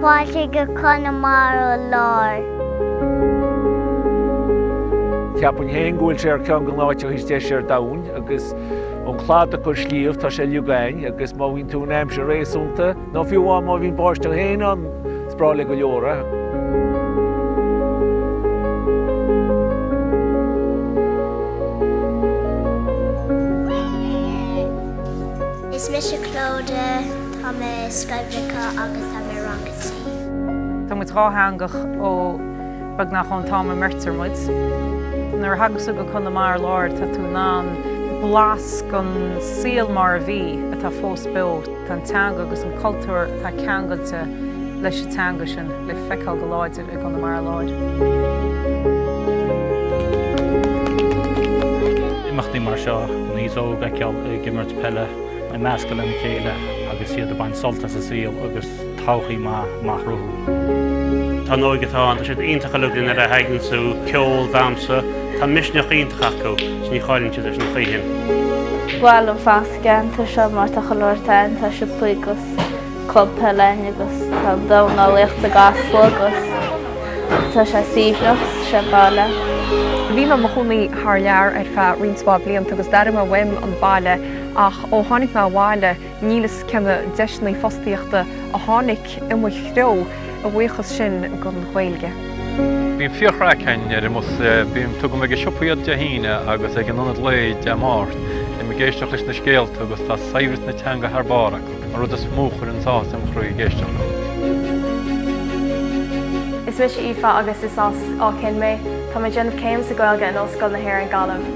Fáilte go Conamara Láir. Cheapfainn fhéin go bhfuil sé ar ceann de na háiteacha is deise ar domhain agus ón gcladach go sliabh tá sé uilig ann agus má bhíonn tú in aimsir réasúnta, Nó fiú amháin má bhíonn báisteach fhéin ann, is breá le go leor é. Is mise Clodagh, tá mé i Scoil Bhriocáin agus tá mé i rang a trí. Tá muid dhátheangach ó beagnach ón t-am a mbeirtear muid. Nuair a thagas tú go Conamara Láir tá tú in ann blas den saol mar a bhí atá fós beo. Tá an teanga agus an cultúr atá ceangailte leis an teanga sin le feiceáil go láidir i gConamara Láir. imeachtaí mar seo chun aos óg a fheiceáil ag imirt peile ag meascadh lena chéile agus iad ag baint sult as an saol agus todhchaí maith a chruthú. Tá an óige atá ann, tá siad iontach uilig nuair a thagann sé chuig ceol, damhsa, tá misneach iontach acu, is ní chailleann siad é sin choíchin. Bhuel an ceantar seo mar tá chuile shórt ann, tá siopa agus club peile ann agus tá dornálaíocht i gCasla agus tá sé suaimhneach sa bhaile. Bhí mé i mo chónaí thar lear ar feadh roinnt mhaith blianta agus d'airigh mé uaim an baile ach ó tháinig mé abhaile níl a fhios cé na deiseanna fostaíochta a tháinig. i mo threo a bhuíochas sin don Ghaeilge. Bíonn fíorchraic againn ar an mbus. Bím, tugaim ag an siopa iad Dé hAoine agus ag an ionad lae Dé Máirt. Bím ag éisteacht leis na scéalta agus tá saibhreas na teanga thar barr acu, an rud is mó a chuireann sásamh i mo chroí ag éisteacht leo. Is mise Aoife agus is as Áth Cinn mé. Tá mé ag déanamh céim sa Ghaeilge in Ollscoil na hÉireann, Gaillimh.